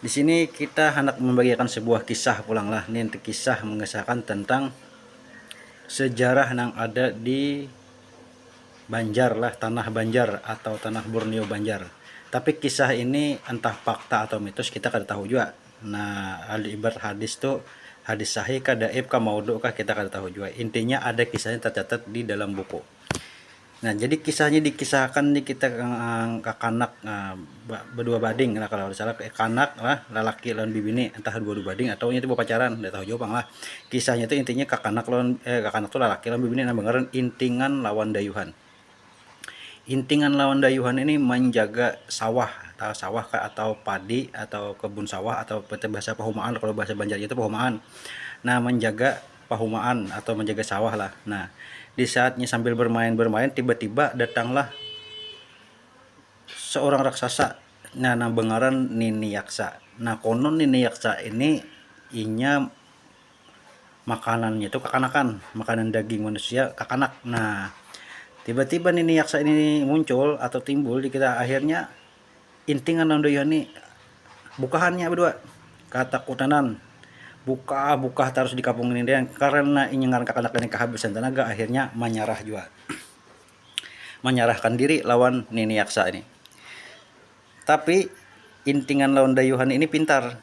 Di sini kita handak mambagiakan sebuah kisah pulang lah, nih kisah mengisahkan tentang sejarah nang ada di Banjar lah, tanah Banjar atau tanah Borneo Banjar. Tapi kisah ini entah fakta atau mitos kita kada tahu jua, nah ibarat hadis tu hadis sahih kah, dhaif kah, maudhu kah kita kada tahu jua, intinya ada kisahnya tercatat di dalam buku. Nah, jadi kisahnya dikisahakan ni kita uh, kakanak uh, berdua bading lah kalau salah kanak lah lelaki lawan bibini entah dua dua bading atau itu pacaran udah tahu jauh lah kisahnya itu intinya kakanak lawan eh, kakanak tuh lelaki lawan bibini nang bangaran intingan lawan dayuhan intingan lawan dayuhan ini menjaga sawah atau sawah atau padi atau kebun sawah atau bahasa pahumaan kalau bahasa Banjar itu pahumaan nah menjaga pahumaan atau menjaga sawah lah. Nah, di saatnya sambil bermain-bermain tiba-tiba datanglah seorang raksasa nah nang bengaran Nini Yaksa. Nah, konon Nini Yaksa ini inya makanannya itu kakanakan, makanan daging manusia kakanak. Nah, tiba-tiba Nini Yaksa ini muncul atau timbul di kita akhirnya Intingan lawan Dayuh ni bukahan nya badua katakutanan bukah bukah tarus di kampung ini dayang karana inya ngaran kakanak ini kahabisan tanaga akhirnya manyarah jua manyarahkan diri lawan nini yaksa ini tapi intingan lawan dayuhan ini pintar.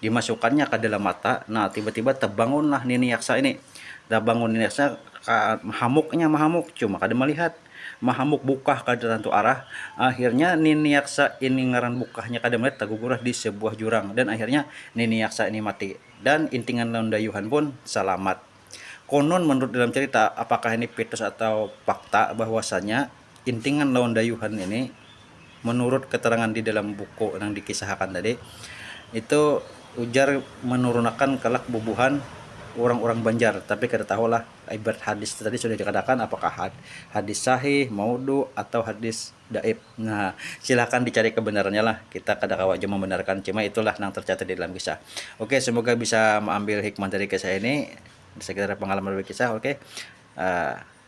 dimasukannya ka dalam mata nah tiba-tiba tebangunlah nini yaksa ini tebangun nini yaksa mahamuknya mahamuk cuma kada melihat mahamuk bukah ka tantu arah akhirnya nini yaksa ini ngaran bukahnya kada melihat tagugurah di sebuah jurang dan akhirnya nini yaksa ini mati dan intingan lawan dayuhan pun salamat konon menurut dalam cerita apakah ini pitos atau fakta bahwasanya Intingan lawan dayuhan ini menurut keterangan di dalam buku nang dikisahakan tadi itu ujar menurunakan kelak bubuhan urang-urang Banjar tapi kada tahu lah ibarat hadis tadi sudah dikatakan apakah hadis sahih, maudhu, atau hadis dhaif nah silakan dicari kebenarannya lah kita kada kawa jua membenarkan cuma itu lah nang tercatat di dalam kisah ok semoga bisa meambil hikmah dari kisah ini sekedar pengalaman berkisah ok.